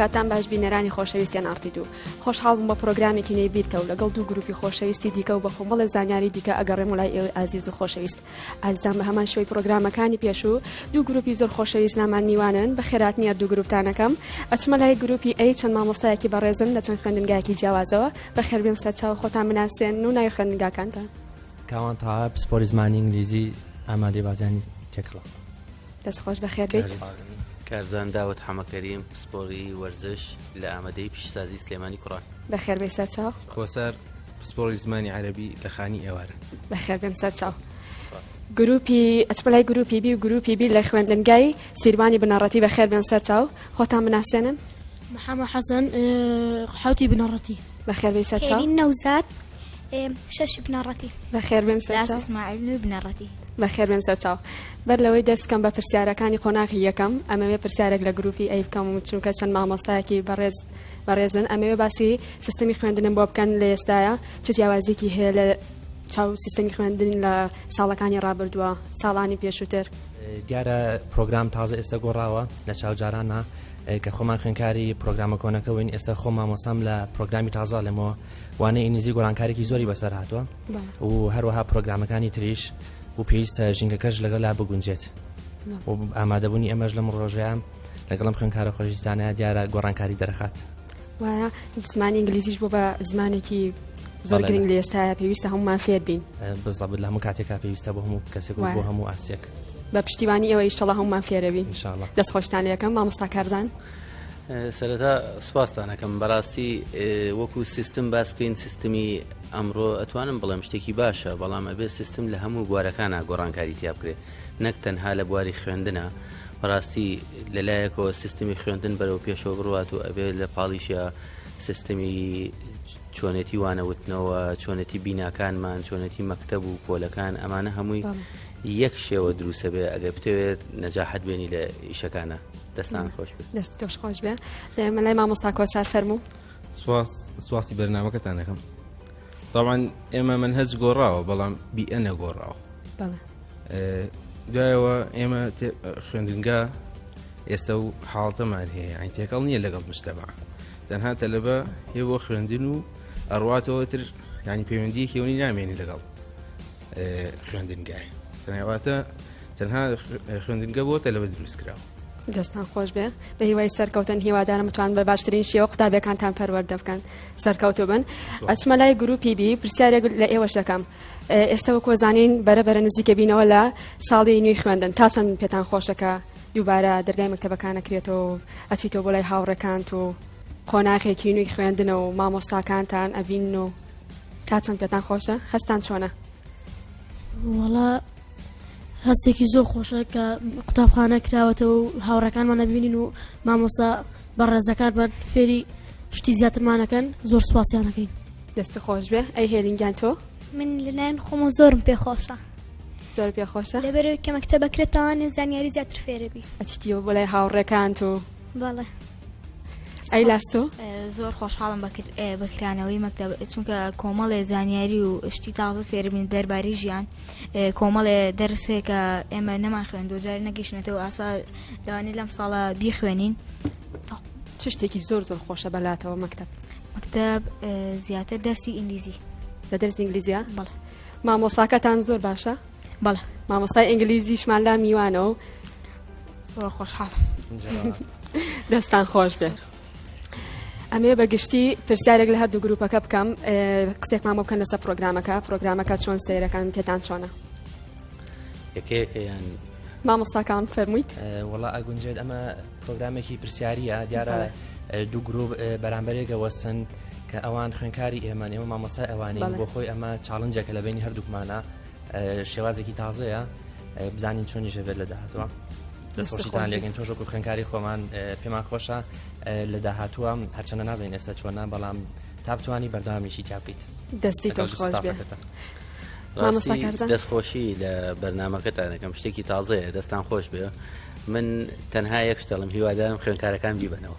کاتان باش بینەرانی خۆشەویستیان ئارتی دوو خۆشحاڵ بووم بە پرۆگرامێکی نێبیرتەوە لەگەڵ دوو گروپی خۆشەویستی دیکە و بە خۆمەڵە زانیاری دیکە ئەگەڕێم وڵای ئێوەی ئازیز و خۆشەویست ئازدان بە هەمان شوی پرۆگرامەکانی پێشوو دوو گروپی زۆر خۆشەویست نامان میوانن بە خێرات نیە دوو گروپتانەکەم ئەچمە لای گروپی ئەی چەند مامۆستایەکی بەڕێزن لە چەند خوێندنگایکی جیاوازەوە بە خێربێن سەرچاو خۆتان مناسێن و ناوی خوێندنگاکانتان کاوان تاها پسپۆری زمانی ئینگلیزی ئامادەی بازیانی تێکڕا دەست خۆش بەخێر بێت کارزان داوت حەمەکەریم پسپۆری وەرزش لە ئامادەی پیشسازی سلێمانی کوڕان بەخێر بێ سەرچاو کۆسار پسپۆری زمانی عەربی لە خانی ئێوارە بەخێر بێن سەرچاو گروپی ئەچپلای گروپی بی و گروپی بیر لە خوێندنگای سیروانی بنەڕەتی بە خێر بێن سەرچاو خۆتان مناسیێنن محەمە حەسەن حوتی بنەڕەتی بە خێر بێ سەرچاو نەوزات شەش بنەڕەتی بە خێر بێن سەرچاو اسماعیل بنەڕەتی بەخێربێن سەرچاو. بەر لەوەی دەست بکەم بە پرسیارەکانی قۆناغی یەکەم، ئەمەوێ پرسیارێک لە گرووپی ئەی بکەم، چونکە چەند مامۆستایەکی بەڕێز بەڕێزن، ئەمەوێ باسی سیستمی خوێندنم بۆ بکەن لە ئێستایا، چ جیاوازییەکی هەیە لە چاو سیستمی خوێندن لە ساڵەکانی ڕابردووە، ساڵانی پێشووتر؟ دیارە پرۆگرام تازە ئێستە گۆڕاوە لە چاو جارانا، کە خۆمان خوێندکاری پرۆگرامە کۆنەکە بووین، ئێستە خۆم مامۆستام لە پرۆگرامی تازە ئەڵێمەوە، وانەی ئینگلیزی گۆڕانکاریی زۆری بەسەر هاتووە. و هەروەها پرۆگرامەکانی تریش و پێویستە ژینگەکەش لەگەلا بگونجێت ئامادەبوونی ئەمەش لەم ڕۆژەیان لەگەڵم خوێنکارە خۆشیستانە دیارە گۆڕانکاری دەرخات وایە زمانی ئینگلیزیش بۆ بە زمانێکی زۆر گرنگ لە ئێستاە پێویستە هەمومان فێر بین بزەبت لە هەموو کاتێکا پێویستە بۆ هەموو کەسێک بۆ هەموو ئاستێک بە پشتیوانی ئەوە ئیشتەڵە هەمومان فێرەوی دەست خۆشتانەکەم مامۆستا کارزان سەرەتا سپاستانەکەم بەڕاستی وەکو سیستم باس بکەین سیستمی ئەمڕۆ ئەتوانم بڵێم شتێکی باشە، بەڵام ئەبێ سیستم لە هەموو بوارەکانا گۆڕانکاری تیا بکرێ، نەک تەنها لە بواری خوێندنا، بەڕاستی لە لایەکەوە سیستمی خوێندن بەرەو پێشەوە بڕوات و ئەبێ لە پاڵیشیا سیستمی چۆنێتی وانەوتنەوە، چۆنێتی بیناکانمان، چۆنێتی مەکتەب و پۆلەکان ئەمانە هەمووی یەک شێوە دروسە بێ ئەگەر بتەوێت نەجاحت بێنی لە ئیشەکانە دەستان خۆش بێت دەست تۆش خۆش بێ دەمەلای مامۆستا کۆسار فەرموو. سواس سواسی بەرنمەکەتان دەکەم طبعا ئێمە من هەج گۆڕاوە بەڵام بیئە نەگۆڕاوە دوایەوە ئێمە خوێندنگا ئێستا و حاڵتەمان هەیە ئەین تێکەڵ نییە لەگەڵ مشتەما تەنها تەلەبە هێ بۆ خوێندن و ئەڕاتەوە تر ینی پەیوەندی کێونی نامێنی لەگەڵ خوێندنگای تەنەواتە تەنها خوێندنگە بۆ تەلەبە دروست کراوە دەستان خۆش بێ بە هیوای سەرکەوتن هیوادارم بتوان بە باشترین شێوە قوتابەکانتان پەروەەردە بکەن سەرکەوتو بن ئەچمە لای گروپی بی پرسیارێک لە ئێوە شەکەم ئێستا وە کۆزانین بەرە بەرە نزیکە بینەوە لە ساڵی نوێی خوێندن تا چەند پێتان خۆشەکە دووبارە دەرگای مەکتتەبەکانەکرێتەوە ئەچیتەوە بۆ لای هاوڕەکانت و قۆناخێکی نوی خوێندنە و مامۆستاکانتان ئەڤین و تا چەند پێتان خۆشە هەستان چۆنە وڵا هەستێکی زۆر خۆشە کە قوتابخانە کراوەتەوە و هاوڕەکانمان نەبینین و مامۆسا بە ڕێزەکان بە فێری شتی زیاترمانەکەن زۆر سوپاسیانەکەین دەستە خۆش بێ ئەی هێلینگیان تۆ من لەلایەن خۆم و زۆرم پێخۆشە زۆر پێخۆشە لەبەرەوەی کە مەکتتە بەکرێتەوانێ زانیاری زیاتر فێرەبی ئەچیتیەوە بۆ لای هاوڕێکان تۆ بەڵێ ئەی لاستۆ زۆر خۆشحاڵم بەکرانەوەی مەکتب چونکە کۆمەڵێ زانیاری و شتی تازە فێربین دەرباری ژیان کۆمەڵێ دەرسێکە ئێمە نەمان خوێن دوجار نەگەیشتێتەوە ئاسا لەوانی لەم ساڵە بیخوێنین چ شتێکی زۆر زۆر خۆشە بەلاتەوە مەکتب مەکتب زیاتر دەرسی ئینگلیزی لە دەرسی ئینگلیزیە بەڵ مامۆساکەتان زۆر باشە بەڵ مامۆستای ئینگلیزیشمان لا میوانە و زۆر خۆشحاڵ دەستان خۆش بێت. ئەمێ بەگشتی پرسیارێک لە هەردوو گروپەکە بکەم قسێکمان بۆ بکەن لەسەر پرۆگرامەکە پرۆگرامەکە چۆن سیرەکان پێتان چۆنە یەکەیەکە یان مامۆستاکان فەرموویت وڵا ئەگونجێت ئەمە پرۆگرامێکی پرسیاریە دیارە دوو گرروپ بەرامبەرێکە وەستن کە ئەوان خوێنکاری ئێمە ئێمە مامۆستای ئەوانین بۆ خۆی ئەمە چاڵنجەکە لە بینی هەردووکمانە شێوازێکی تازەیە بزانین چۆنی ژەبێت لە داهاتوە دەستخۆشیتان لێگەن تۆژۆک و خوێنکاری خۆمان پێمان خۆشە لە داهاتوە هەرچەنە نازین ئێستا چۆنە بەڵام تا بتوانانی بەردامیشی تا بکەیت دەستی تۆشخۆشبێتە. دەستخۆشی لە بەرنمەکەتانەکەم شتێکی تازەیە دەستان خۆش بێ من تەنها یەک شتەڵم هیوادارم خوێنکارەکان بیبنەوە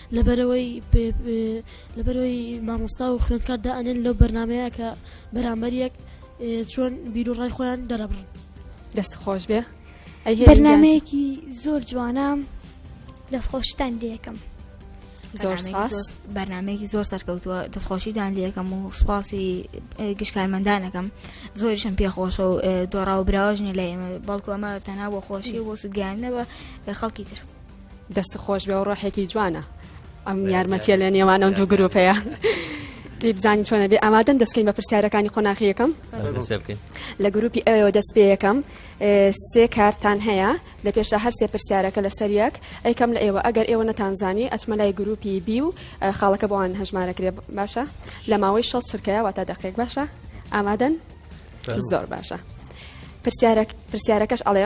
لەبەرەوەی لەبەرەوەی مامۆستا و خوێندکار دائەنێن لەو بەرنمەیە کە بەرامبەر یەک چۆن بیرروڕای خۆیان دەرەبڕن دەست خۆش بێ بەرنمەیەکی زۆر جوانە دەستخۆشتان لەکەم زۆر بەرنمەیەکی زۆر سەرکەوتووە دەستخۆشیدان لەکەم و سوپاسی گشتکارمەندانەکەم زۆریشم پێخۆشە و دۆڕا و براوەژنی لە ئێمە بەڵکو ئەمە تەنها بۆ خۆشی بۆ سوودگەیان نەوە خەڵکی تر. دەست خۆش بێ و ڕۆحێکی جوانە ئەم یارمەتیە لە نێوان ئەم دوو گرروپەیە. پێی بزانین چۆنە بێ ئامادەن دەستکەین بە پرسیارەکانی قۆناخی یەکەم لە گروپی ئەوەوە دەست پێ یەکەم سێ کارتان هەیە لە پێشدا هەر سێ پرسیارەکە لە سەریەک ئەیکەم لە ئێوە ئەگەر ئێوە نەتانزانی ئەچمە لای گروپی بی و خاڵەکە بۆوان هەژمارە کرێ باشە لە ماوەی شەست چرکەیە واتە دەقێک باشە ئامادەن زۆر باشە پرسیارەکەش ئەڵێ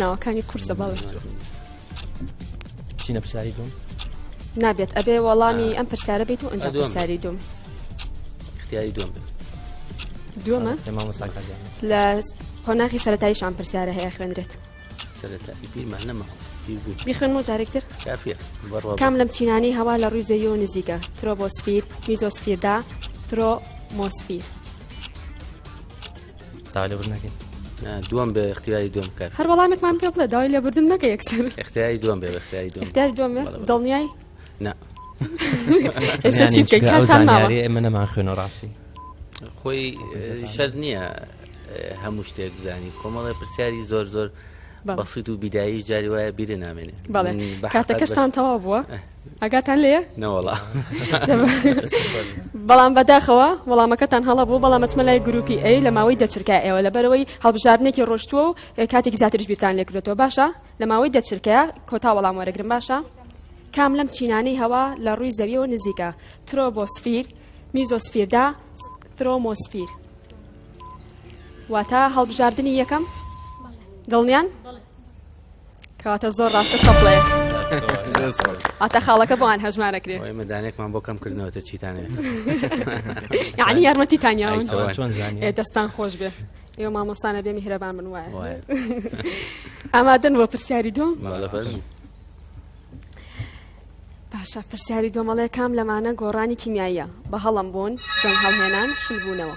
ناوەکانی قورسە باڵ چینە پرسیاری دوم نابێت ئەبێ وەڵامی ئەم پرسیارە بێت و ئەنج پرسیاری دوم اختیاری دوم دومە لە قۆناغی سەرەتایشان پرسیارە هەیە خوێنرێت سەرەتایی پیمان نەمە بیخن و جارێکتر کام لەم چینانی هەوا لە ڕووی زەوی و نزیکە ترۆبۆسفیر میزۆسفیردا ترۆمۆسفیر تالبژ نەکەین دوم بە اختیاری دوم کرد هەر وەڵامێکمان پێ بڵێ داوای لێبوردن نەکە یەکسەر اختیاری دوم بێ اختیاری دوم اختیاری دوم دڵنیای نه ئێستا چی بکەین کاتان ماوە ئێمە نەمان خوێنە ڕاستی خۆی شەر نییە هەموو شتێک بزانین کۆمەڵی پرسیاری زۆر زۆر بەسیت و بیدایی جاری وایە بیرە نامێنێ بەڵێ کاتەکەشتان تەوا بووە ئەگاتان لێ نەوەڵا بەڵام بەداخەوە وەڵامەکەتان هەڵە بوو بەڵام مەچمە لای گروپی ئەی لە ماوەی دەچرکە ئێوە لە بەرەوەی هەڵبژاردنێکی ڕۆشتووە و کاتێک زیاترش بیرتان لێکرێتەوە باشە لە ماوەی دەچرکە کۆتا وەڵام وەرەگرم باشە کام لەم چینانەی هەوا لە ڕووی زەویەوە نزیکە ترۆبۆسفیر میزۆسفیردا ترۆمۆسفیر واتە هەڵبژاردننی یەکەم دڵنیان کەواتە زۆر ڕاستە سەڵێ ئاتە خاڵەکە بۆیان هەژمارەکرێ ئێمە دانێکمان بۆ کەم کردنەوەتە چیتانێ یعنی یارمەتی تانیاون چۆن دەستان خۆش بێ ئێوە مامۆستانە بێ میهرەبان من وایە ئامادەن بۆ پرسیاری دوم باشە پرسیاری دۆمەڵێ کام لەمانە گۆڕانی کیمیاییە بە هەڵم بوون جەم هەڵهێنان شلبوونەوە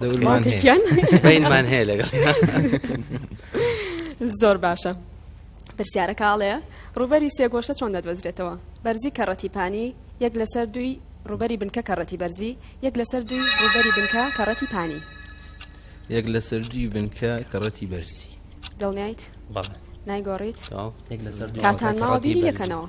بینمان هەیە لەگەڵ زۆر باشە پرسیارەکە ئاڵەیە ڕوبەری سێگۆشە چۆن دەدۆزرێتەوە بەرزی کەڕەتی پانی یەک لەسەر دوی ڕوبەری بنکە کەڕەتی بەرزی یەک لەسەر دوی ڕوبەری بنکە کەڕەتی پانی یەک لەسەر دوی بنکە کەڕەتی بەرزی دڵنیایت نایگۆڕیت کاتان ماوە بیری لەکەنەوە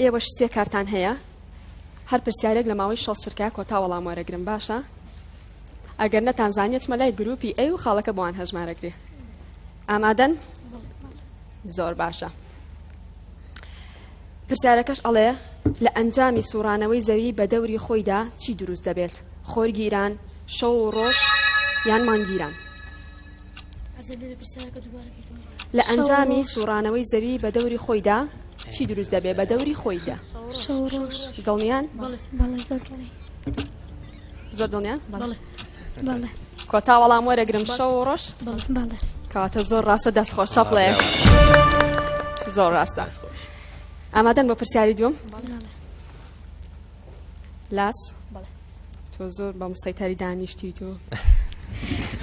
ئێوەش سێ کارتان هەیە هەر پرسیارێک لە ماوەی شەست چرکە کۆتا وەڵام وەرەگرن باشە ئەگەر نەتان زانیە چمە لای گروپی ئەی و خاڵەکە بۆوان هەژمارەگرێ ئامادەن زۆر باشە پرسیارەکەش ئەڵێ لە ئەنجامی سوڕانەوەی زەوی بە دەوری خۆیدا چی دروست دەبێت خۆرگیران شەو و ڕۆژ یان مانگیران لە ئەنجامی سوڕانەوەی زەوی بە دەوری خۆیدا چی دروست دەبێ بە دەوری خۆیدا دڵنیان زۆر دڵنیان کۆتا وەڵام وەرەگرم شەو ڕۆژ کەواتە زۆر ڕاستە دەست خۆش چاپڵێ زۆر ڕاستە ئامادەن بۆ پرسیاری دوم لاس تۆ زۆر بە مسەیتاری دانیشتی تۆ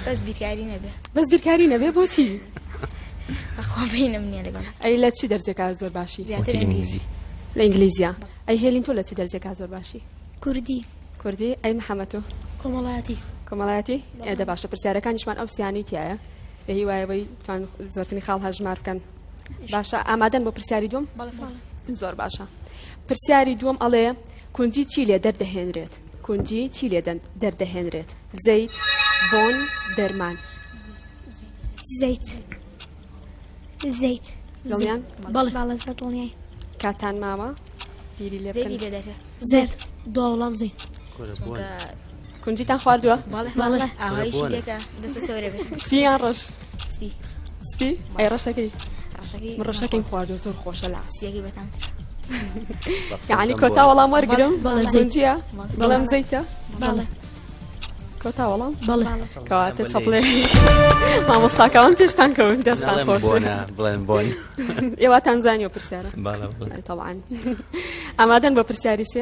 بەس بیرکاری نەبێ بەس بیرکاری نەبێ بۆچی خۆبینم نیە لەگەڵ ئەی لە چی دەرزێکا زۆر باشی زیاتر ئینگلیزی لە ئینگلیزیا ئەی هێلین تۆ لە چی دەرزێکا زۆر باشی کوردی کوردی ئەی محەممەد تۆ کۆمەڵایەتی کۆمەڵایەتی ئێدە باشە پرسیارەکانیشمان ئەو سیانی تایە بە هیوایەوەی توان زۆرتنی خاڵ هەژمار بکەن باشە ئامادەن بۆ پرسیاری دوم زۆر باشە پرسیاری دوم ئەڵێ کونجی چی لێ دەردەهێنرێت؟ کونجی چی لێ دەردەهێنرێت؟ زەیت، بۆن، دەرمان. زەیت. زەیت. دڵنیان؟ بەڵێ بەڵێ زەیت دڵنیای. کاتان ماوە؟ بیری لێ بکەن. زەیت. دوا وەڵام زەیت. کورە بۆن. کونجیتان خواردووە سپی یان ڕەش سپی ئەی ڕەشەکەی ڕەشەکەی خواردو زۆر خۆشە لە یعنی کۆتا وەڵام وەرگرم زنجە بەڵام زەیتە کۆتا وەڵام کەواتە چڵێ مامۆستاکەوان پێشتان کەون دەستان خۆش بڵێن بۆن ئێواتان زانانی و پرسیارە تەوان ئامادەن بە پرسیاری سێ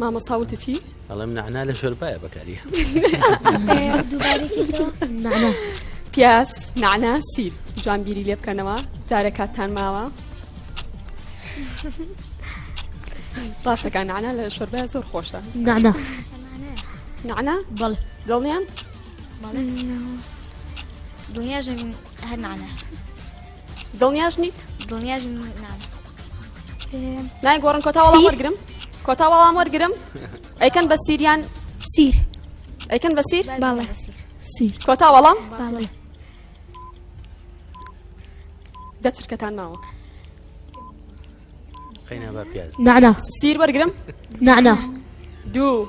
مامۆستا وتی چی؟ ئەڵێم نعنا لە شۆربایە بەکاری پیاس نعنا سیر جوان بیری لێ بکەنەوە جارە کاتتان ماوە ڕاستەکان نعنا لە شۆربای زۆر خۆشە نعنا نعنا بەڵێ دڵنیان دڵنیاژن هەر نانە دڵنیاش نیت دڵنیاش نانە نای گۆڕن کۆتا وەڵام وەرگرم کۆتا وەڵام وەرگرم ئەیکەن بە سیریان سیر ئەیکەن بە سیر باڵێ سیر کۆتا وەڵام باڵێ دەچرکەتان ماوە نعنا سیر وەرگرم نعنا دوو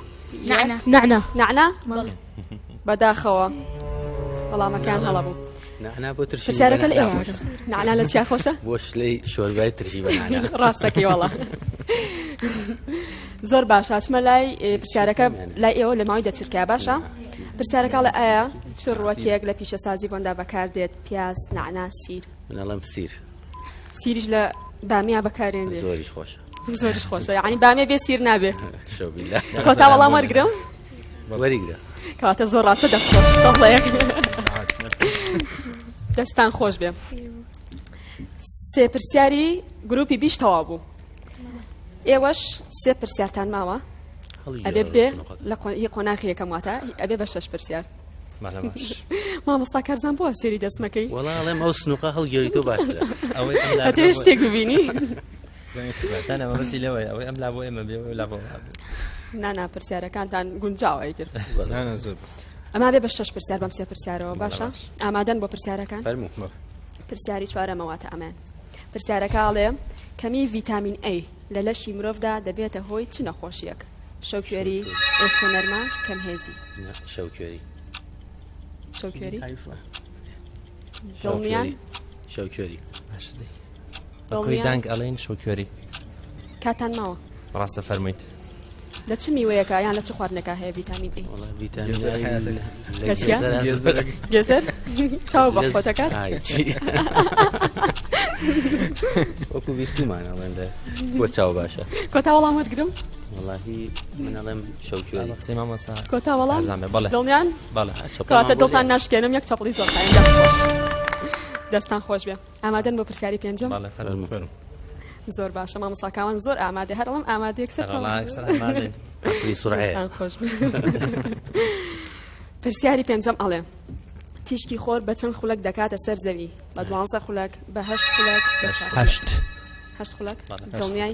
نعنا نعنا نعنا بەداخەوە وەڵامەکان هەڵە بوو پرسیارەکە لە ئێوە نعنا لە چیا خۆشە بۆ شلەی شۆربای ترشی بە ڕاستەکەی وەڵا زۆر باشە چمە لای پرسیارەکە لای ئێوە لە ماوەی دەچرکە باشە پرسیارەکە لە ئایا چ ڕوەتێک لە پیشەسازی بۆندا بەکاردێت پیاز نعنا سیر منەڵم سیر سیریش لە بامیا بەکارێنێ زۆریش خۆشە زۆریش خۆشە یعنی بامێ بێ سیر نابێ کۆتا وەڵام وەرگرم وەریگرە کەواتە زۆر ڕاستە دەست خۆش چڵەیەک دەستان خۆش بێ سێ پرسیاری گروپی بیش تەوا بوو ئێوەش سێ پرسیارتان ماوە ئەبێ بێ لە قۆناخی یەکەم واتە ئەبێ بە شەش پرسیار مامۆستا کارزان بووە سێری دەستمەکەی وڵاڵێم ئەو سنوقە هەڵگەری تۆ باش ئەوەی شتێک ببینی لەوەی ئەوەی ئەم لا بۆ ئێمە بێ لا بۆ نانا پرسیارەکانتان گونجاوی تر زۆر ئەما بێ بەشتەش پرسیار بەم سێ پرسیارەوە باشە ئامادەن بۆ پرسیارەکان پرسیاری چوارەمەواتە ئەمێ پرسیارەکە ئاڵێ کەمی ڤیتامین ئەی لە لەشی مرۆڤدا دەبێتە هۆی چ نەخۆشیەک شەوکوێری ئێسکە نەرمە کەم هێزی شەوکوێری شەوکوێری دڵنیان شەوکوێری بەکۆی دانگ ئەڵێن شەوکوێری کاتان ماوە ڕاستە فەرمویت لە چ میوەیەکە یان لە چ خواردنەکە هەیە ڤیتامین ڤیتامین گێزەر چاو بە خۆتەکان وەکو بیستمان ئەڵێندە بۆ چاو باشە کۆتا وەڵام وەرگرم وڵی منەڵێم شەوکوێ قسەی مامەسا کۆتا وەڵام بەڵێ دڵنیان بەڵێ کاتە دڵتان ناشکێنم یەک چەپڵی زۆر دەستان خۆش بێ ئامادەن بۆ پرسیاری پێنجەم بەڵێ فەرموو زۆر باشە مامۆستا کاوان زۆر ئامادە هەر ئەڵم ئامادە یەکسەر خۆش پرسیاری پێنجەم ئەڵێ تیشکی خۆر بە چەند خولک دەکاتە سەر زەوی بە دوانزە خولک بە هەشت خولک هەشت خولک دڵنیای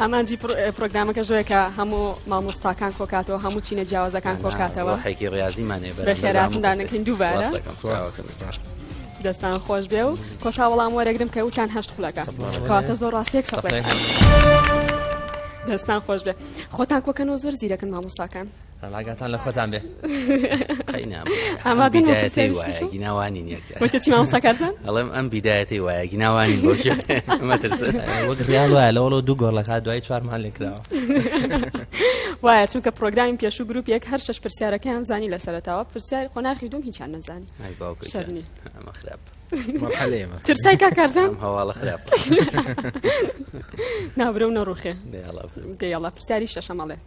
ئامانجی پرۆگرامەکە ژۆێکە هەموو مامۆستاکان کۆکاتەوە هەموو چینە جیاوازەکان کۆکاتەوە حێکی ڕاضیمانێ بە خێراتدانەکەین دووبارە دەستان خۆش بێ و کۆتا وەڵام وەرەگرم کە وتان هەشت خولەکە کاتە زۆر ڕاستێک سەڵێ دەستان خۆش بێ خۆتان کۆکەن و زۆر زیرەکەن مامۆستاکان ڕاگاتان لە خۆتان بێ ئەماگیناوانی نیەکەماوەستاکارتان ئەڵێم ئەم بیدایەتی وایە گیناوانی وەگریال وایە لەوەڵۆ دوو گۆڵ لە دوای چوارمان لێکراوە وایە چونکە پرۆگرامی پێش و گروپ یەک هەر شش پرسیارەکەیان زانی لە سەرتاوە پرسیار قۆناخی دوم هیچیان نەزانی خراپ ترسای کا کارزان هەواڵە خراپ نابرە و نەڕوخێ دەڵە پرسیاری شەشەمەڵێ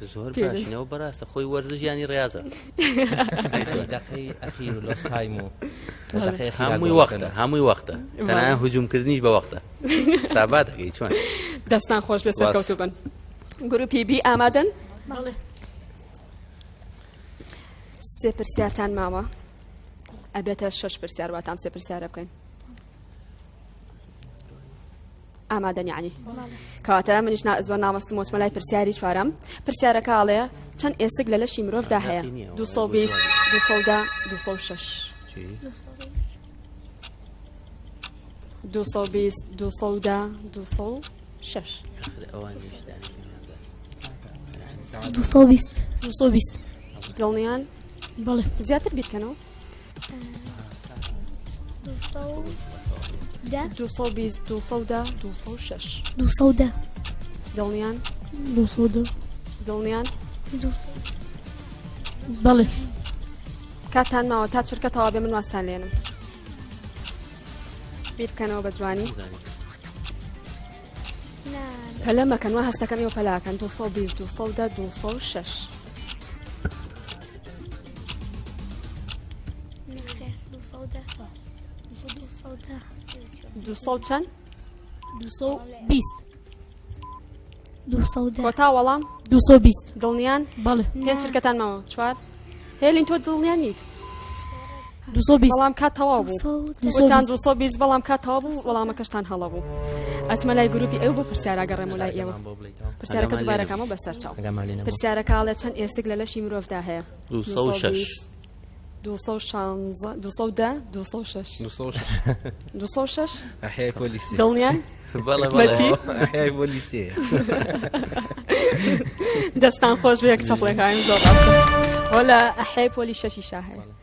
زۆر باشنەوە بەڕاستە خۆی وەرزش ینی ڕاضە هەمووی وەختە هەمووی وەختە تەنان هجوومکردنیش بە وەختە سابات دەکەی چۆن دەستان خۆش بێ سەرکەوتو بن گروپی بی ئامادەن سێ پرسیارتان ماوە ئەبێتە شش پرسیار واتان سێ پرسیارە بکەین ئامادەنی عنی کەواتە منیش زۆر نامەستم وچمەلای پرسیاری چوارم پرسیارەکە ئاڵەیە چەند ئێسک لە لەشی مرۆڤدا هەیە 220 دڵنیان بەڵێ زیاتر بیرکەنەوە دڵنیان دڵنیان بەڵێ کاتان ماوە تا چرکە تەوا بێ من واستان لێنم بیر بکەنەوە بە جوانی پەلە مەکەن وە هەستەکەم ێوە پەلاکەن 220 2 6. چەند؟ کۆتا وەڵام دڵنیان بەڵێ پێ چرکەتان ماوە چوار هێلین تۆ دڵنیان نیت بەڵام کا تەواو بووتان 220 بەڵام کا تەوا بوو وەڵامەکەشتان هەڵە بوو ئەچمە لای گروپی ئەو بۆ پرسیاراگەڕێم لای ئێوە پرسیارەکە دوبارەکەمە بەسەر چاو پرسیارە کاڵێ چەند ئێسک لە لەشی مرۆڤدا هەیە 206 دڵنیان دەستان خۆش بێک چەپڵێکایم زۆر ڕاستە هۆ لە ئەحەی پۆلی شەشی شاهەیە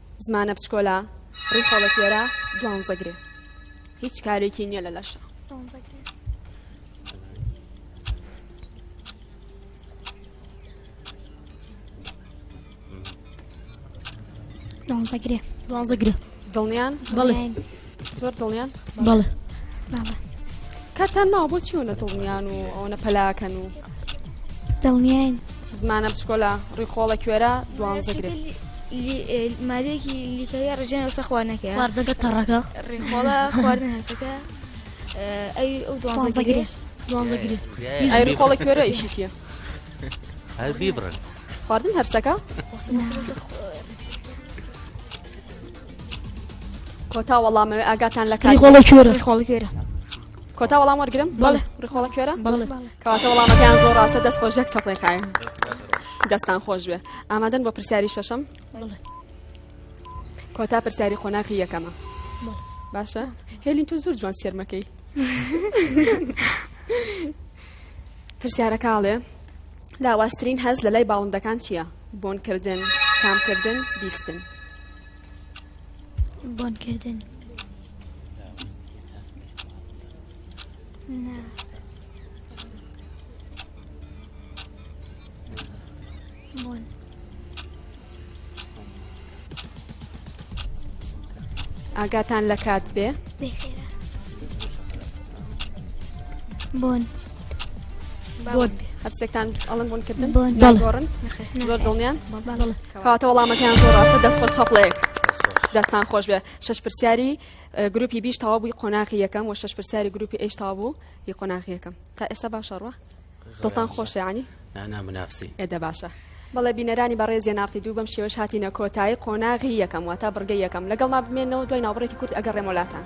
زمانە بچکۆلە ڕی خۆڵە کوێرە دوانزە گرێ هیچ کارێکی نییە لە لەشە دوانزە گرێ دوانزە گرێ دڵنیان بڵێ زۆر دڵیان بەڵێ کاتان ناوە بۆ چیەوە نە دڵنیان و ئەو نە پەلاکەن و دڵنیان زمانە بچکۆلا ڕیخۆڵە کوێرە دوانزەگرێت مادێکی لیکەوە ڕژێن لەسە خوارنەکە واردەکە تەڕەکە ڕیخۆڵە خواردن هەسەکە ئەی ئەو دوانزەگرێت دوانزەگرێت ئەری خۆڵە کوێرە ئیشی چیە هەر بیبڕن خواردن هەرسەکە کۆتا وەڵامەوە ئاگاتان لە کاری خۆڵە کوێرە خۆڵە کوێرە کۆتا وەڵام وەرگرم بەڵێ ڕخۆڵە کوێرە بەڵێ کەواتە وەڵامەکەیان زۆر ڕاستە دەست خۆشێک چەپڵێکایە دەستان خۆش بێ ئامادەن بۆ پرسیاری شەشەم کۆتا پرسیاری قۆناغی یەکەمە باشە هێلین تو زۆر جوان سێرمەکەی پرسیارەکەڵێ لاوازترین هەست لە لای باڵندەکان چییە؟ بۆنکردن، تامکردن، بیستن. بۆنکردن. نا. بۆن. ئاگاتان لە کات بێ بۆن بۆن هەرسێکتان ئەڵم بوون کردن بۆن گۆڕن زۆر دڵنیان کاتە وەڵامەکەیان زۆر ڕاستە دەست خۆش چەپڵێک دەستان خۆش بێ شش پرسیاری گروپی بیش تەوا بووی قۆناقی یەکەم و شش پرسیاری گروپی ئێش تا بوو ی قۆناقی یەکەم تا ئێستا باشەڕوە دڵتان خۆشە یانی؟ نا نا منافسین. ئێ دە باشە. بەڵێ بینەرانی بەڕێز یەن ئاڕتی دوو بەم شێوەش هاتینە کۆتایی قۆناغی یەکەم واتە بڕگەی یەکەم لەگەڵمان بمێنەوە دوای ناوبڕێکی کورت ئەگەڕێمەوە لاتان.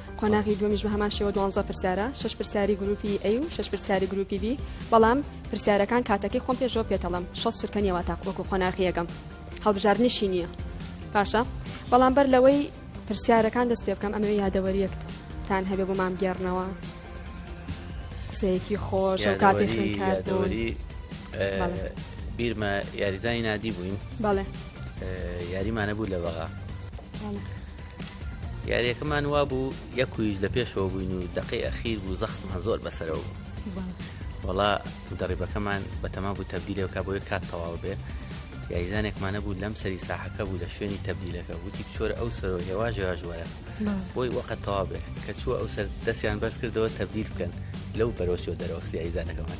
قۆناغی دومیش بە هەمان شێوە دوانزە پرسیارە شش پرسیاری گروپی ئەی و شش پرسیاری گروپی بی بەڵام پرسیارەکان کاتەکەی خۆم پێشەوە پێتەڵم شە سرکەنیەوە تا وەکو قۆناغیەکەم هەڵبژاردنیشی نییە باشە بەڵام بەر لەوەی پرسیارەکان دەست پێ بکەم ئەمەوێ یادەوەریەکتان هەبێ بۆ مام گێڕنەوە قسەیەکی خۆش و کاتی خوێنکاری بیرمە یاریزانی نادی بووین بەڵێ یاریمانە بوو لە بەغا یاریەکەمان وابوو یەک ویش لە پێشەوە بووین و دەقی ئەخیر بوو زەختمان زۆر بەسەرەوە بوو وڵا مدەڕیبەکەمان بەتەما بوو تەبدیلەوەکە بۆی کات تەواو بێ یاریزانێکمانە بوو لەم سەری ساحەکە بوو لە شوێنی تەبدیلەکە وتی چۆرە ئەو سەر هێواژ هێواژوەرە بۆی وەقت تەوا بێ کە چووە ئەو سەر دەستیان بەرز کردەوە تەبدیل بکەن لەو بەرۆچۆ دەرەوە یاریزانەکەمان.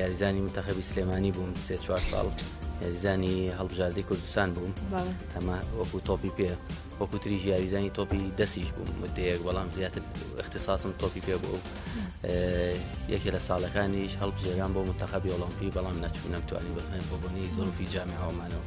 یاریزانی منتەخەبی سلێمانی بووم سێ چوار ساڵ یاریزانی هەڵبژاردەی کوردستان بووم هەمە وەکو تۆپی پێ وەکو تری یاریزانی تۆپی دەستیش بووم مدەیەک بەڵام زیاتر اختصاسم تۆپی پێ بوو یەکێ لە ساڵەکانیش هەڵبژێران بۆ منتەخەبی ئۆلۆمپی بەڵام نەچوو نەمتوانی بەڵێن بۆ بۆنی زۆفی جامعەوەمانەوە.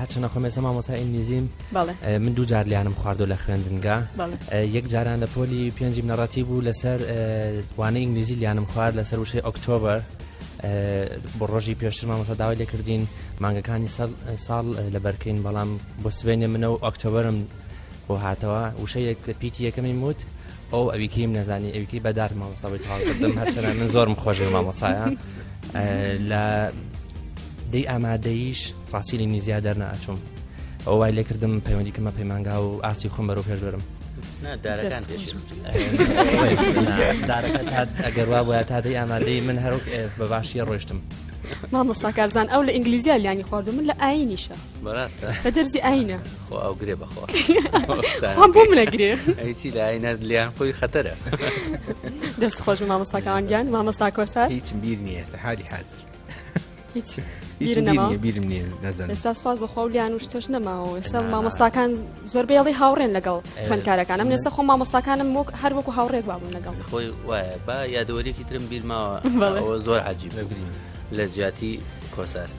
هەرچەنە خۆم ێسە مامۆسا ئینگلیزیم من دوو جار لیانم خواردۆ لە خوێندنگە یەک جاران لە پۆلی پێنجیم نەڕەتی بوو لەسەر وانە ئینگلیزی لیانم خوارد لەسەر وشەی ئۆکتۆبەر بۆ ڕۆژی پێشتر مامۆسا داوای لێکردین مانگەکانی ساڵ لە بەرکەین بەڵام بۆ سبێنێ منە و ئۆکتۆبرم بۆ هاتەوە وشەیەک پیتی یەکەمی موت ئۆو ئەوی کەیم نەزانی ئەوی کەی بەدار مامۆستا بۆی تەواو کردم هەرچەنە من زۆرم خۆشی مامۆسایە لە دەی ئامادەیش ڕاستیلی نیزیا دەرنا ئەچوم ئەو وای لێ کردم پەیوەندی کەمە پەیمانگا و ئاستی خۆم بەرەو پێش بەرم ئەگەر وا بە تا دەی ئامادەی من هەر بە باشیە ڕۆشتم مامۆستاکارزان ئەو لە ئینگلیزیا لیانی خواردو من لە ئاینیشە بە دەرزی ئاینە خۆ ئەو گرێ بەخۆ بۆ منە گرێ هیچی لاینە لیان خۆی خەتەرە دەست خۆش مامۆستاکان گیان مامۆستا کۆسار هیچ بیر نییە سەحاری حاضر هیچ بیرم نیە نەزان ئێستا سواز بە خۆلیان و شتەش نەماوە ئێستا مامۆستاکان زۆر بێڵی هاوڕێن لەگەڵ خوێندکارەکانم ئێستا خۆ مامۆستاکانم وەک هەر وەکو هاوڕێک بابوون لەگەڵ خۆی وایە با یادەوەریکی ترم بیرماوە زۆر عجیب لە جیاتی کۆسار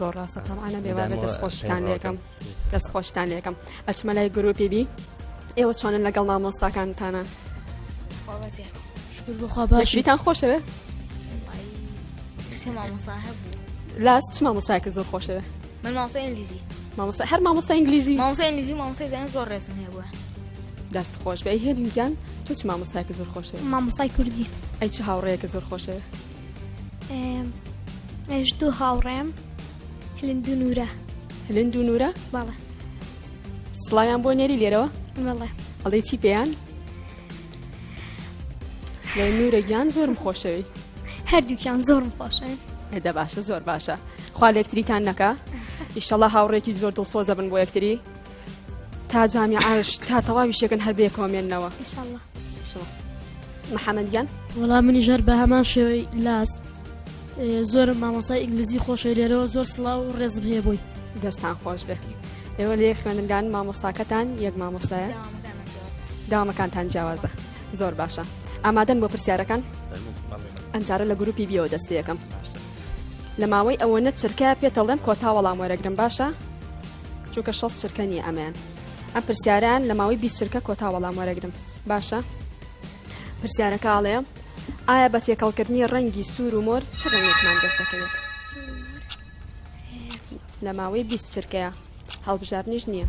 زۆر ڕاستە تەمانە بێوانە دەست خۆشتان لەکەم دەست خۆشتان لەکەم ئەچمە لای گرروپی بی ئێوە چۆنن لەگەڵ مامۆستاکانتانە باشیتان خۆشەوێ لاست چ مامۆستایکە زۆر خۆشەوێ من ماوسە ئینگلیزی مامۆستا هەر مامۆستا ئینگلیزی مامۆستا ئینگلیزی مامۆستا زیان زۆر ڕێزم هەیە بووە دەست خۆش بە هێنگیان تۆ چ مامۆستایکە زۆر خۆشە مامۆسای کوردی ئەی چ هاوڕەیەکە زۆر خۆشەوێ ئەش دوو هاوڕێم هلند و نورە هلند و نورە باڵە سڵایان بۆ نێری لێرەوە ئەڵێ چی پێیان لە نورە گیان زۆرم خۆشەوی هەردووکیان زۆرم خۆشن هەدە باشە زۆر باشە خوا لەکتریتان نەکە ئیشەڵە هاوڕێکی زۆر دڵسۆزە بن بۆ یەکتری تا جامی عاش تا تەواوی شێکن هەر بێ کۆمێنەوە محەممەدیان وەڵام منی ژەر بە هەمان شێوەی لاس زۆر مامۆسای ئینگلیزی خۆشە لێرەوە زۆر سڵاو و ڕێزم هەیە بووی دەستان خۆش بێ ئێوە لێ خوێندنگان مامۆستاکەتان یەک مامۆستایە داوامەکانتان جیاوازە زۆر باشە ئامادەن بۆ پرسیارەکان ئەمجارە لە گروپی بیەوە دەست پێەکەم لە ماوەی ئەوە نە چرکە پێتەڵێم کۆتا وەڵام وەرەگرم باشە چونکە شەست چرکە نییە ئەمەیان ئەم پرسیاران لە ماوەی بیست چرکە کۆتا وەڵام وەرەگرم باشە پرسیارەکە ئاڵێ ئایا بە تێکەڵکردنی ڕەنگی سوور و مۆر چ ڕەنگێکمان دەست دەکەوێت لە ماوەی بیست چرکەیە هەڵبژاردنیش نییە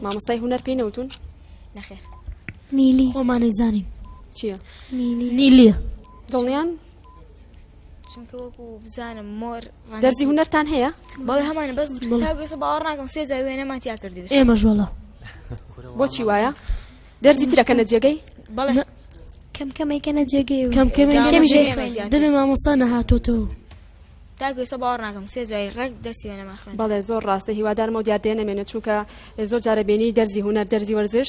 مامۆستای هوەر پێی نەوتون نەخێر نیلی خۆمانەی زانین چییە نیلیە دڵنیان چونکە وەکو بزانم مۆر دەرزی هونەرتان هەیە بەڵێ هەمانە بەس تاگەسە باوەڕ ناکەم سێ جای وێنەمان تیا کردی ئێمە ژۆڵە بۆچی وایە دەرزی ترەکە نە جێگەی بەڵێ کەم کەمێکەنە جێگەی کەم کەمێ دەبێ مامۆستا نەهاتۆتەوە تاگوێسە باوەڕ ناکەم سێ جای ڕێک دەرسی وێنەماخن بەڵێ زۆر ڕاستە هیوادارمە و دیاردێ نەمێنێت چونکە زۆر جارە بینی دەرزی هوەر دەرزی وەرزش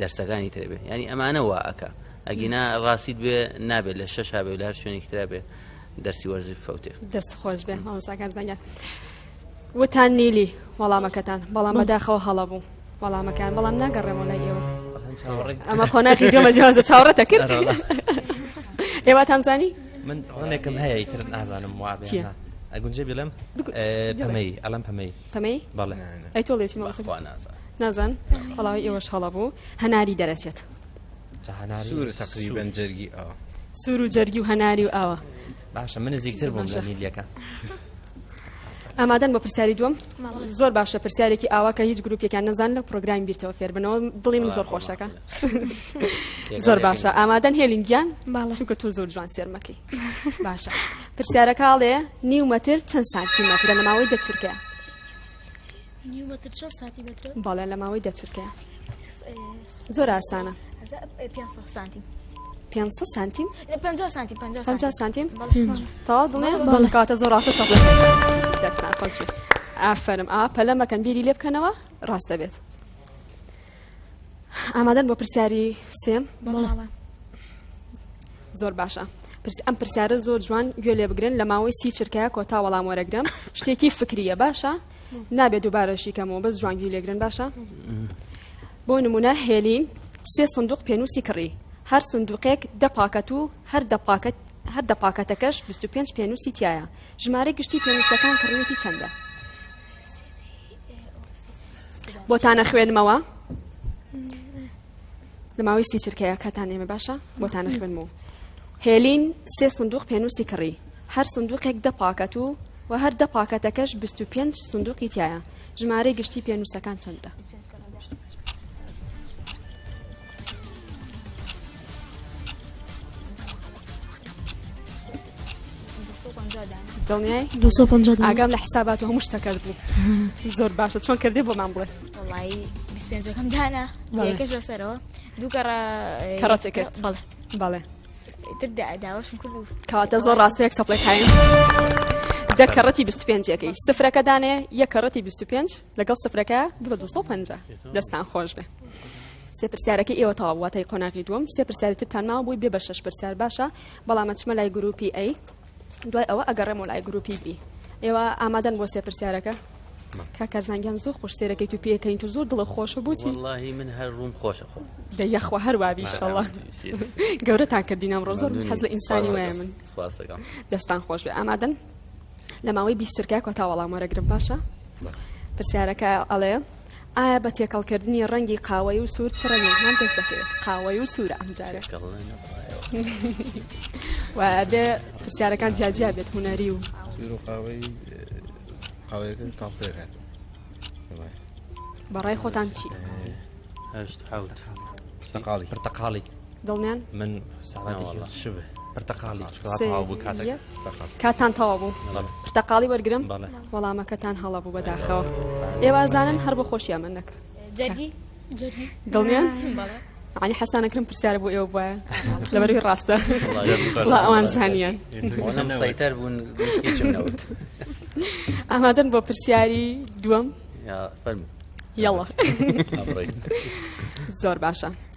دەرسەکانی تر بێ ینی ئەمانە وا ئەک ئەگینا ڕاستیت بێ نابێت لە شەش هاابێ لە هەر شوێنێک تررا بێ دەرسی وەرزی فوتێ دەست خۆش بێ مامۆساکان زەنگە وتان نیلی وەڵامەکەتان بەڵام بەداخەوە هەڵە بوو وەڵامەکان بەڵام ناگەڕێمەوە لای ئێوە ئەمە خۆناخی دۆمە جیوازە چاوڕەتە کرد ئێوەتان زانی من ڕۆنێکم هەیە تر نازانم وابێ ئەگونجێ بڵێم پەمەی ئەلم پەمەی پەمەی بەڵێ ئەی تۆڵێ چی بەخوا نازان نازان بەڵاوی ئێوەش هەڵە بوو هەناری دەرەچێت سوور تقریبن جەرگی ئەو سوور و جەرگی و هەناری و ئاوە باشە من نزیکتر بووم لە نیلیەکە ئامادەن بە پرسیاری دوم زۆر باشە پرسیارێکی ئاوا کە هیچ گروپێکیان نەزان لە پرۆگرامی بیرتەوە فێربنەوە دڵی من زۆر خۆشەکە زۆر باشە ئامادەن هێلینگیان چونکە تۆ زۆر جوان سێرمەکەی باشە پرسیارەکە ئەڵێ نیو مەتر چەند سانتیمەترە لە ماوەی دە چرکەیە نیو مەتر چەند سانتیمەترە بەڵێ لە ماوەی دە چرکەیە زۆر ئاسانە سانتیم 500 سانتیم 50 سانتیم 50 سانتیم تەواو دڵێ بەڵکاتە زۆر ڕاستە چەڵ دەستان خۆش ئافرم ئا پەلەمەکەن بیری لێ بکەنەوە ڕاستە بێت ئامادەن بۆ پرسیاری سێم زۆر باشە ئەم پرسیارە زۆر جوان گوێ لێ بگرن لە ماوەی سی چرکەیە کۆتا وەڵام وەرەگرم شتێکی فکریە باشە نابێت دووبارەشی کەمەوە بەس جوانگی لێگرن باشە بۆ نمونە هێلین سێ سندوق پێنووسی کڕی هەر سندوقێک دە پاکەت و هەر دە پاکەت هەر دە پاکەتەکەش 25 پێنووسی تایە ژمارە گشتی پێنووسەکان کڕیوەتی چەندە بۆتان نەخوێنمەوە لە ماوەی سی چرکەیە کاتان ئێمە باشە بۆتان نەخوێنمەوە هێلین سێ سندوق پێنووسی کڕی هەر سندوقێک دە پاکەت و و هەر دە پاکەتەکەش 25 سندوقی تایە ژمارەی گشتی پێنووسەکان چەندە دڵنیای دو ئاگام لە حسابات و هەموو شتەکەت بوو زۆر باشە چۆن کردێ بۆمان بڵێ وڵی پێنجەکەم دانا یەکەش لەسەرەوە دووکەڕ کەڕەتێک کرد بەڵێ بەڵێ تردا داواشم کرد و کەواتە زۆر ڕاستەیەک سەپڵێک هایم. دە کەڕەتی 25ەکەی سفرەکە دانێ یە کەڕەتی 25 لەگەڵ سفرەکە بە 250 دەستان خۆش بێ. سێ پرسیارەکە ئێوە تاواتای قۆناغی دوم سێ پرسیارتتان ماوە بووی بێ بە شش پرسیار باشە بەڵام ئەچمە لای گروپی ئەی دوای ئەوە ئەگەڕێمەوە لای گروپی بی ئێوە ئامادەن بۆ سێ پرسیارەکە کاکارزانگیان زۆر خۆش سێرەکەی تو پێکەین تو زۆر دڵە خۆشە بۆچی واللهی من هەر ڕووم خۆشە خۆ دە یەخوا هەر وابی شڵە گەورەتان کردینم ڕۆ زۆر حەز لە ئینسانی وایە من دەستان خۆش بێ ئامادەن لە ماوەی بیسترکە کۆتا وەڵام وەرەگرم باشە پرسیارەکە ئەڵێ ئایا بە تێکەڵ کردنی ڕەنگی قاوەیی و سوور چ ڕەنگێکمان دەست دەکەوێت قاوەیی و سوورە ئەم جارێ و بێ پرسیارەکان جیاجیا بێت هوەری و سوور و قاوەی قاوەیەکە تاڵتێ هات بەڕای خۆتان چی هەشت حوت پرتەقاڵی پرتەقاڵی دڵنیان من پرتەقاڵی کاتان تەوا بوو پرتەقاڵی وەرگرم وەڵامەکەتان هەڵە بوو بەداخەوە ئێوازانن هەر بە خۆشیان من نەکە دڵنیان علی حەسانەکرم پرسیار بۆ ئێوە بواە لەبەروی ڕاستە ئەوان زانیان سەیتەر بوون ئامادەن بۆ پرسیاری دووەم یاڵە زۆر باشە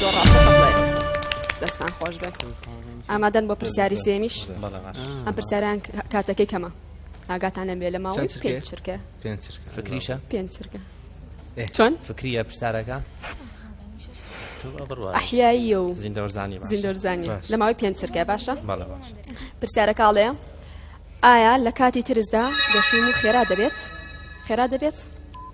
زۆر ڕاستە چەپڵێت دەستان خۆش بێت ئامادەن بۆ پرسیاری سێمیش ئەم پرسیاریان کاتەکەی کەمە ئاگاتان لەم بێ لە ماوەی پێنج چرکە پێنج چرکە فکریشە پێنج چرکە چۆن فکریە پرسیارەکە ئەحیایی و زیندۆرزانی زیندۆرزانی لە ماوەی پێنج چرکە باشە پرسیارەکەڵێ ئایا لە کاتی ترسدا گەشین و خێرا دەبێت خێرا دەبێت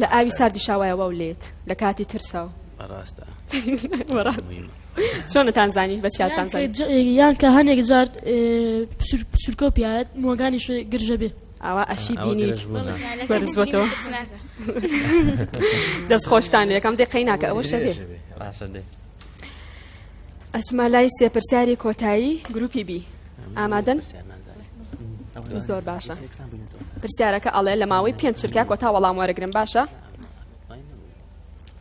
لە ئاوی ساردی شاوایە واو لێت لە کاتی ترساو ڕاستە چۆنتان زانی بە چیاتان یان کە هەنێک جار پسرکە و پیاەت مۆگانیش گرژە بێ ئاوا ئەشی بینی بەرزبەوە دەست خۆشتان یەکەم دقی ناکە ئەوە شەێ ئەچما لای سێپرسیاری کۆتایی گروپی بی ئامادەن زۆر باشە پرسیارەکە ئەڵێ لە ماوەی پێنج چرکە کۆتا وەڵام وەرەگرن باشە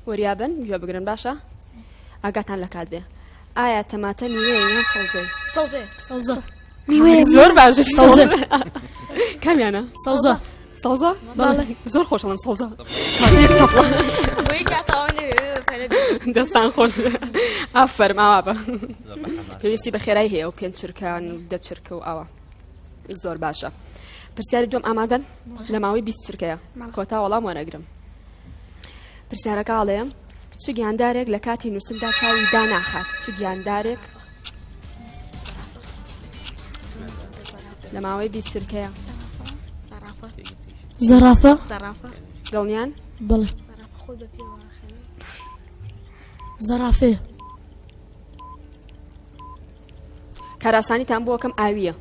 وریابن گوێ بگرن باشە ئاگاتان لە کات بێ ئایا تەماتە میوەیە یان سەوزەی سەوزێ سەوزە میوەیە زۆر باشە سەوزە کامیانە سەوزە سەوزە بەڵێ زۆر خۆش من سەوزە دەستان خۆش ئافەرماوا بە پێویستی بە خێرای هەیە و پێنج چرکان و دە چرکە و ئاوە زۆر باشە پرسیاری دوم ئامادەن لە ماوەی بیست چرکەیە کۆتا وەڵام وەرەگرم پرسیارەکە ئاڵەیە چ گیاندارێک لە کاتی نووسندا چاوی داناخات چ گیاندارێک لە ماوەی بیست چرکەیە زەرافە دڵنیان بڵێ زەرافێ کاراسانیتان بۆکەم ئاویە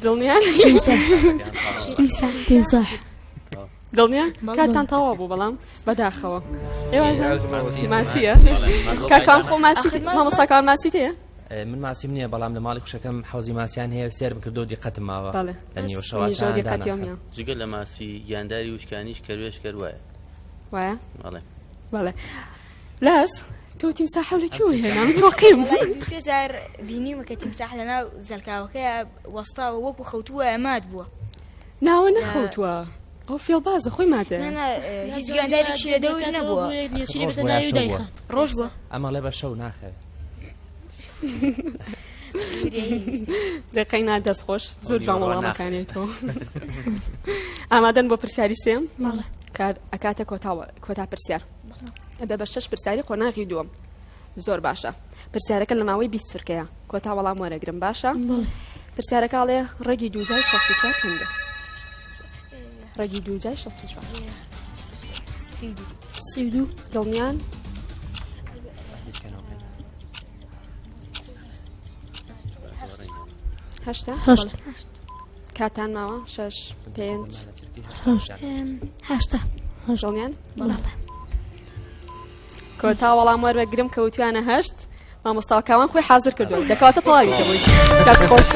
دڵنیان تیمساح دڵنیا کاتتان تەوا بوو بەڵام بەداخەوە ماسیە کاکان خۆ ماسی مامۆستاکان ماسی تەیە من ماسیم نییە بەڵام لە ماڵی خوشەکەم حوزی ماسیان هەیە سێر بکردو دیقەتم ماوە لە نیوە شەوە جگە لە ماسی گیانداری وشکانیش کەروێش کەروایە وایە بەڵێ بەڵێ لاس تۆ تیمسا حولەکی و هێنام تۆقیم سێ جار بینیمەکە تیمساح لەناو زەلکاوەکە وەستا وەکو خەوتووە ئەمات بووە ناوە نەخەوتوە ئەو فێڵبازە خۆی مادە هیچ گاندارێکی لە دەور نەبووە ڕۆژ بووە ئەمە لێ بە شەو ناخەوێت دەقەینا دەست خۆش زۆر جوان وەڵامەکانێت تۆ ئامادەن بۆ پرسیاری سێم کار ئەکاتە کۆتاوە کۆتا پرسیار بە بە شەش پرسیاری قۆناغی دووەم زۆر باشە پرسیارەکە لە ماوەی بیست چرکەیە کۆتا وەڵام وەرەگرم باشە پرسیارەکە ئاڵێ ڕێگی دووجای شەست و چوار چەندە ڕێگی دووجای شەست و چوار سی و دوو دڵنیان هەشتا هەشت کاتان ماوە شەش پێنج هەشت هەشتا هەشتڵیان بەڵێ کۆتا وەڵام وەرە گرم کەوتویانە هەشت مامۆستا کاوان خۆی حاضر کردووە دەکاتە تەواوی کەبووی دەست خۆش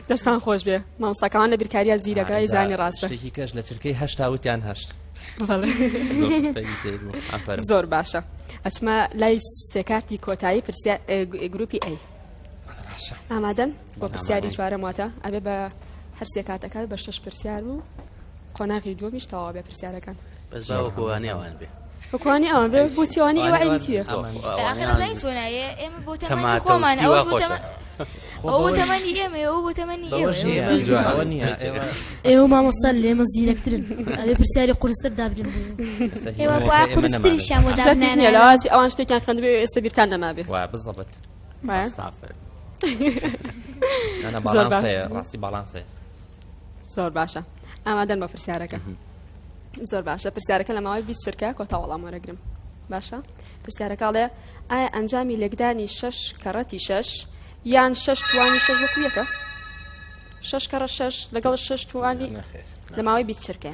دەستان خۆش بێ مامۆستا کاوان لە بیرکاریە زیرەکەی زانی ڕاستە شتێکی کەش لە چرکەی هەشتا وتیان هەشت زۆر باشە ئەچمە لای سێکارتی کۆتایی پرسیا گروپی ئەی ئامادەن بۆ پرسیاری چوارەم واتە ئەبێ بە هەرسێ کاتەکان بە شش پرسیار و قۆناغی دووەمیش تەواو بێ پرسیارەکان بەس باوەکوانیاوان بێ بکوانی ئەوان بێ بۆچیوانی ئەوە ئەوی چیە ئێمە بۆ تەمانی خۆمان ئەوە بۆ تەمانی ئەوە تەمەنی ئێمە ئەو بۆ تەمەنی ئێوە مامۆستا لێمە زیرەکترن ئەێ پرسیاری قرستر دابرن ئێوەخوا قرستری شامۆداێنەوەی ئەوان شتێکیان خوێندبێ ئێستا بیرتان نەمابێ بزڵبت ڕاستی باڵانسێ زۆر باشە ئامادەن بە پرسیارەکە زۆر باشە پرسیارەکە لە ماوەی بیست چرکە کۆتا وەڵام وەرەگرم باشە پرسیارەکەڵێ ئایا ئەنجامی لێکدانی شەش کەڕەتی شەش یان شەش توانی شەش وەکویەکە شەش کەڕە شەش لەگەڵ شەش توانی لە ماوەی بیست چرکە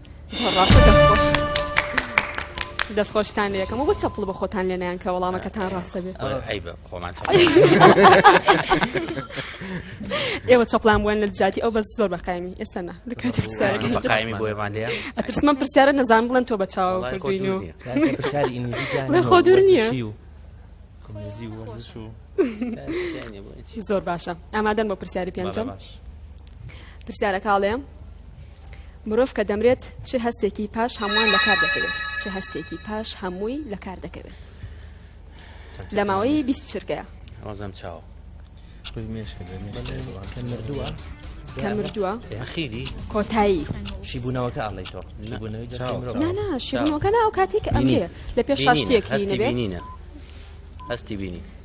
دەست خۆشتان لەکەم و بۆ چەپڵ بە خۆتان لێنیان کە وەڵامەکەتان ڕاستە بێت ئێوە چەپلان بووەن لە جاتی ئەو بەس زۆر بەقایمی ئێستا نا ئەترسمە پرسیارە نەزان بڵێن تۆ بە چاو کردین و خۆ دوور نییە زۆر باشە ئامادەن بۆ پرسیاری پێنجم پرسیارە کاڵێ مرۆڤ کە دەمرێت چ هەستێکی پاش هەمووان لە کار دەکەوێت چ هەستێکی پاش هەمووی لە کار دەکەوێت لە ماوەی بیست چرکەیە ئەوزەم چاوە خوی مێش کە مردووە کە مردووە ئەخیری کۆتایی شیبوونەوەکە ئاڵی تۆ شیبوونەوەی جەستەی مرۆڤ نا نا شیبوونەوەکە نا ئەو کاتێک ئەمێ لە پێش شاشتێک هەستی بینینە هەستی بینی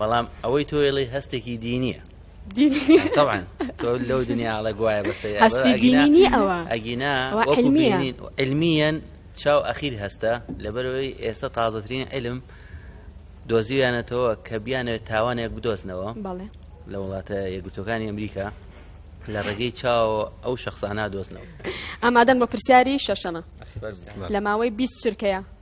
بەڵام ئەوەی تۆ ئێڵی هەستێکی دینیە لەو دنیاڵە گوایە بەسەر هەستی دینی ئەوە ئەگینا علمیەن چاو ئەخیر هەستە لەبەرەوەی ئێستا تازەترین علم دۆزیویانەتەوە کە بیانەوێت تاوانێک بدۆزنەوە لە وڵاتە یەکگرتوەکانی ئەمریکا لە ڕێگەی چاو ئەو شخصانە دۆزنەوە ئامادەن بە پرسیاری شەشەمە لە ماوەی 20 چرکەیە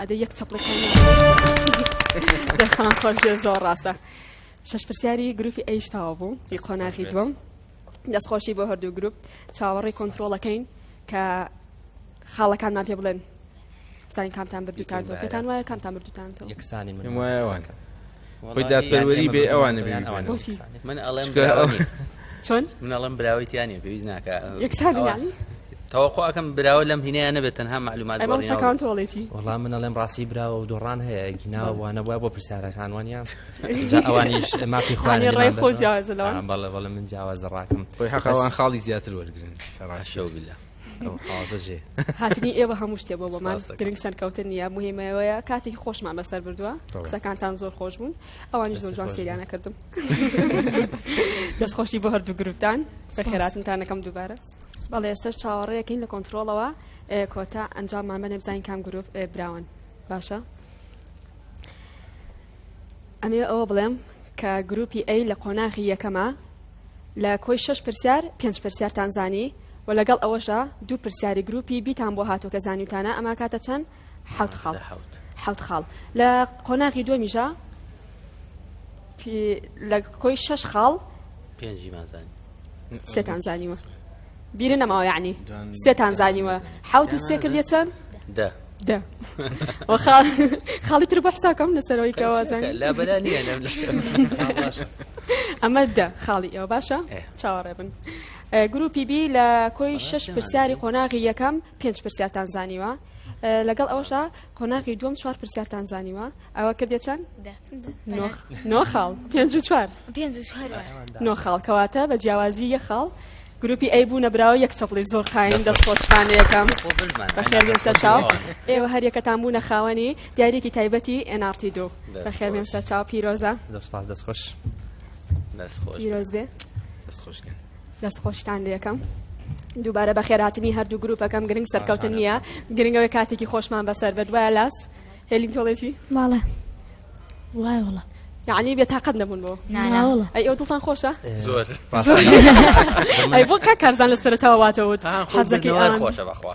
ئەدە یەک چەپڵێک دەستان خۆش زۆر ڕاستە شەش پرسیاری گروپی ئەیش تاوە بوو ی قۆناغی دووەم دەستخۆشی بۆ هەردوو گروپ چاوەڕێی کۆنتترۆڵەکەین کە خاڵەکانمان پێ بڵێن بزانین کامتان بردوتان پێتان وایە کامتان بردوتان یەکسانی من وایە خۆی دادپەروەری بێ ئەوانە بێ ئەوان من ئەڵێم چۆن من ئەڵم براوەی تیانە پێویست ناکە یەکسان تەوەخۆ ئەەکەم براوە لەم هینەیە نەبێت تەنها معلومات تۆڵێتی وڵام من ئەڵێم ڕاستی براوە و دۆڕان هەیە گیناوە وانە بووە بۆ پرسیارەکان وانیان ئەوانیش مافی خوانی ڕای خۆ جیازەوە بەڵێ بەڵێ من جیاوازە ڕاکم خۆی حەقوان خاڵی زیاتر وەرگن ڕاشەوە بلە هاتنی ئێوە هەموو شتێ بۆ بۆمان گرنگ سەرکەوتن نیە مهمەوەیە کاتێکی خۆشمان بەسەر بردووە قسەکانتان زۆر خۆش بوون ئەوانی زۆر جوان سریانە کردم دەستخۆشی بۆ هەردوو گروپتان خێراتنتانەکەم دووبارە بەڵێ ئێستش چاوەڕێەکەین لە کۆنتترۆڵەوە کۆتا ئەنجاممان بەێ بزانین کام گرروپ براون باشە ئەمەوێ ئەوە بڵێم کە گروپی ئەی لە قۆناغی یەکەمە لە کۆی شش پرسیار پێنج پرسیارتان زانی و لەگەڵ ئەوەشە دوو پرسیاری گروپی بیتان بۆ هاتو کە زانیوتانە ئەما کاتە چەند حوت خاڵ حوت خاڵ لە قۆناغی دومیژە لە کۆی شش خاڵ سێتان زانیوە بیرت نەماوە یەعنی سێتان زانیوە حەوت و سێ کردیە چەند دە دە خاڵی تر بۆ حساکەم لەسەرەوەی کەوازان لابەلا نییە ئەمە دە خاڵی ئێوە باشە چاوەڕێ بن گروپی بی لە کۆی شش پرسیاری قۆناغی یەکەم پێنج پرسیارتان زانیوە لەگەڵ ئەوشا قۆناغی دووەم چوار پرسیارتان زانیوە ئەوە کردێ چەند نۆ خاڵ پێنج و چوار نۆ خاڵ کەواتە بە جیاوازی یە خاڵ گروپی ئەی بوو نەبراوە یەک چەپڵی زۆر قایم دەست خۆشتان یەکەم بەخێربێن سەرچاو ئێوە هەر یەکەتان بوونە خاوەنی دیارێکی تایبەتی NRT دوو بەخێربێن سەرچاو پیرۆزە دەست خۆش پیرۆز بێ دەست خۆشکە دەست خۆشتان لەکەم دووبارە بەخێراتنی هەردوو گروپەکەم گرنگ سەرکەوتن نییە گرنگەوەی کاتێکی خۆشمان بەسەر بە دوای لاس هێلین تۆڵێتی ماڵە وای وڵە یعنی بێ تاقەت نەبوون بۆ ئەی ئەو دڵتان خۆشە زۆر ئەی بۆ کا کارزان لە سەرتاواتەوت حەزەکەی خۆشە بەخوا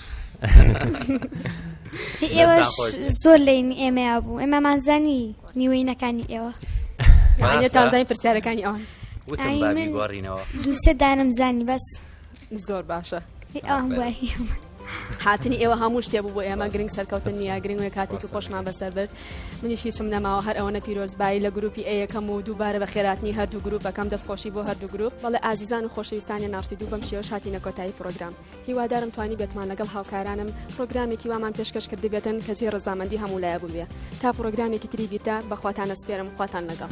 ئێوەش زۆر لین ئێمە بوو ئێمەمانزانی نیوەینەکانی ئێوە تازای پرسیارەکانی ئەوان دووسێ دانم زانی بەس زۆر باشە هاتنی ئێوە هەموو شتێ بوو بۆ ئێمە گرنگ سەرکەوتن نیە گرنگ کاتێکی خۆشمان بەسەر برد منیش هیچم نەماوە هەر ئەوەنە پیرۆزبایی لە گروپی ئەیەکەم و دووبارە بە خێراتنی هەردوو گروپەکەم دەستخۆشی بۆ هەردوو گروپ بەڵێ ئازیزان و خۆشەویستانی ناوتی دوو بەم شێوە شاتینە کۆتایی پرۆگرام هیوادارم توانیبێتمان لەگەڵ هاوکارانم پرۆگرامێکی وامان پێشکەش کردبێتن کە جێ ڕزامەندی هەموو لایە بووبێ تا پرۆگرامێکی تری بیردا بەخواتانە سپێرم خواتان لەگەڵ.